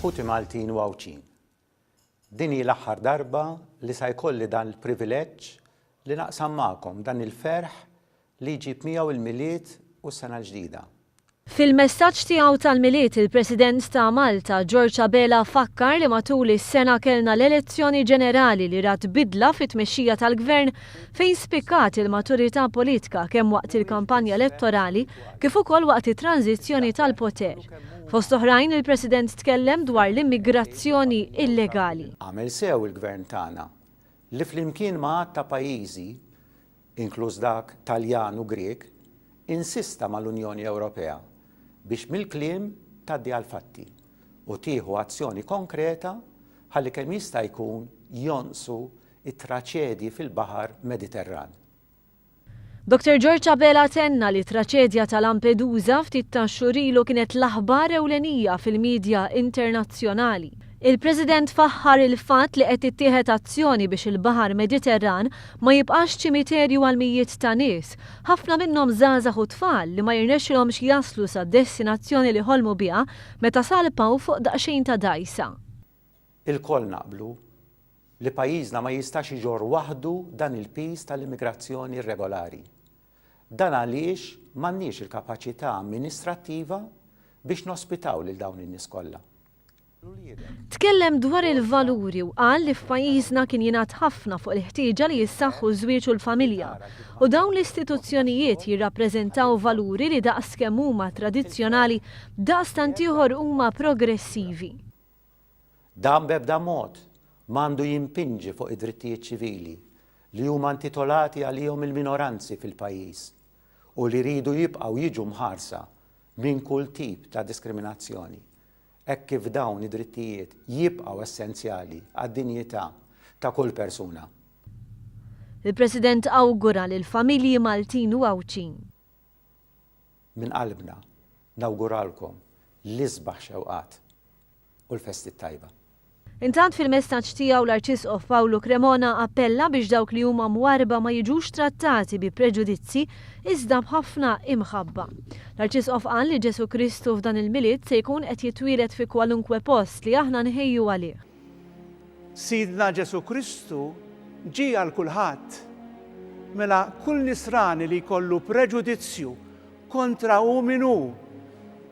Ħuti Maltin u Għawdxin, din hi l-aħħar darba li sa jkolli dan l-privileġġ li naqsam magħkom dan il-ferħ li jġib miegħu l-Milied u s-Sena l-Ġdida. Fil-messaġġ tiegħu tal-Milied il-President ta' Malta, George Abela fakkar li matul is-sena kellna l-elezzjoni ġenerali li rat bidla fit-tmexxija tal-Gvern fejn spikkat il-maturità politika kemm waqt il-kampanja elettorali kif ukoll waqt it-tranżizzjoni tal-poter. Fost oħrajn, il-President tkellem dwar l-immigrazzjoni illegali. Għamel sew il-Gvern tagħna li flimkien ma' għadd ta' pajjiżi, inkluż dak Taljan u Grieg, insista mal-Unjoni Ewropea biex mill-kliem tgħaddi għall-fatti u tieħu azzjoni konkreta ħalli kemm jista' jkun jonqsu t-traċedji fil-Baħar Mediterran. Doctor George Abela tenna li t-traċedja ta' Lampedusa ftit tax-xhur ilu kienet l-aħbar ewlenija fil-midja internazzjonali. Il-President faħħar il-fatt li qed tittieħed azzjoni biex il-Baħar Mediterran ma jibqax ċimiterju għal mijiet ta' nies, ħafna minnhom żgħażagħ u tfal li ma jirnexxilhomx jaslu sad-destinazzjoni li ħolmu biha meta salpaw fuq daqsxejn ta' dgħajsa. Ilkoll naqblu li pajjiżna ma jistax iġorr waħdu dan il-piż tal-immigrazzjoni irregolari. Dan għaliex m'għandniex il-kapaċità amministrattiva biex nospitaw lil dawn in-nies kollha. Tkellem dwar il-valuri u qal li f'pajjiżna kien jingħad ħafna fuq il-ħtieġa li jissaħħu ż-żwieġ u l-familja u dawn l-istituzzjonijiet jirrappreżentaw valuri li daqs kemm huma tradizzjonali, daqstant ieħor huma progressivi. Dan b'ebda mod ma għandu jimpinġi fuq id-drittijiet ċivili li huma intitolati għalihom il-minoranzi fil-pajjiż u li jridu jibqgħu jiġu mħarsa minn kull tip ta' diskriminazzjoni hekk kif dawn id-drittijiet jibqgħu essenzjali għad-dinjità ta' kull persuna. Il-President awgura lill-familji Maltin u Għawdxin. Minn qalbna nawguralkom l-isbaħ xewqat u l-festi t-tajba. Intant fil-messaġġ tiegħu l-Arċisqof Pawlu Cremona appella biex dawk li huma mwarrba ma jiġux trattati bi preġudizzji iżda b'ħafna imħabba. L-Arċisqof qal li Ġesù Kristu f'dan il-Milied se jkun qed jitwieled fi kwalunkwe post li aħna nħejju għalih. Sidna Ġesù Kristu ġie għal kulħadd. Mela kull Nisrani li jkollu preġudizzju kontra hu min hu,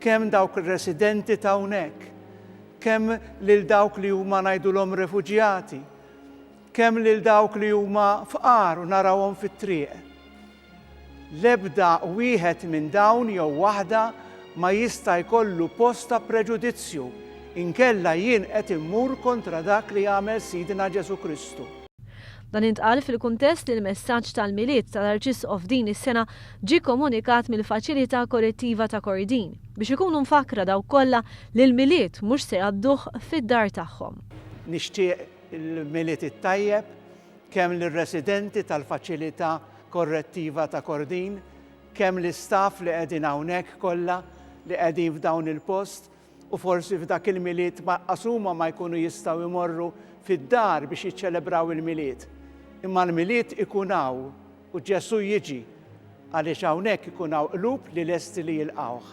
kemm dawk ir-residenti t'hawnhekk, kemm lil dawk li huma ngħidulhom refuġjati, kemm lil dawk li huma fqar u narawhom fit-triq, L-ebda wieħed minn dawn jew waħda ma jista' jkollu post ta' preġudizzju, inkella jien qed immur kontra dak li għamel Sidna Ġesù Kristu. Dan intqal fil-kuntest li l-messaġġ tal-Milied tal-Arċisqof din is-sena ġie kkomunikat mill-Faċilità Korrettiva ta' Kordin, biex ikunu mfakkra dawk kollha li l-Milied mhux se jgħadduh fid-dar tagħhom. Nixtieq il-Milied it-tajjeb kemm lir-residenti tal-Faċilità Korrettiva ta' Kordin, kemm l-istaff li qegħdin hawnhekk kollha li qegħdin f'dawn il-post u forsi f'dak il-Milied maqas huma ma jkunu jistgħu jmorru fid-dar biex jiċċelebraw il-Milied. Imma l-Milied ikun hawn u Ġesù jiġi għaliex hawnhekk ikun hawn qlub li lesti li jilqgħuh.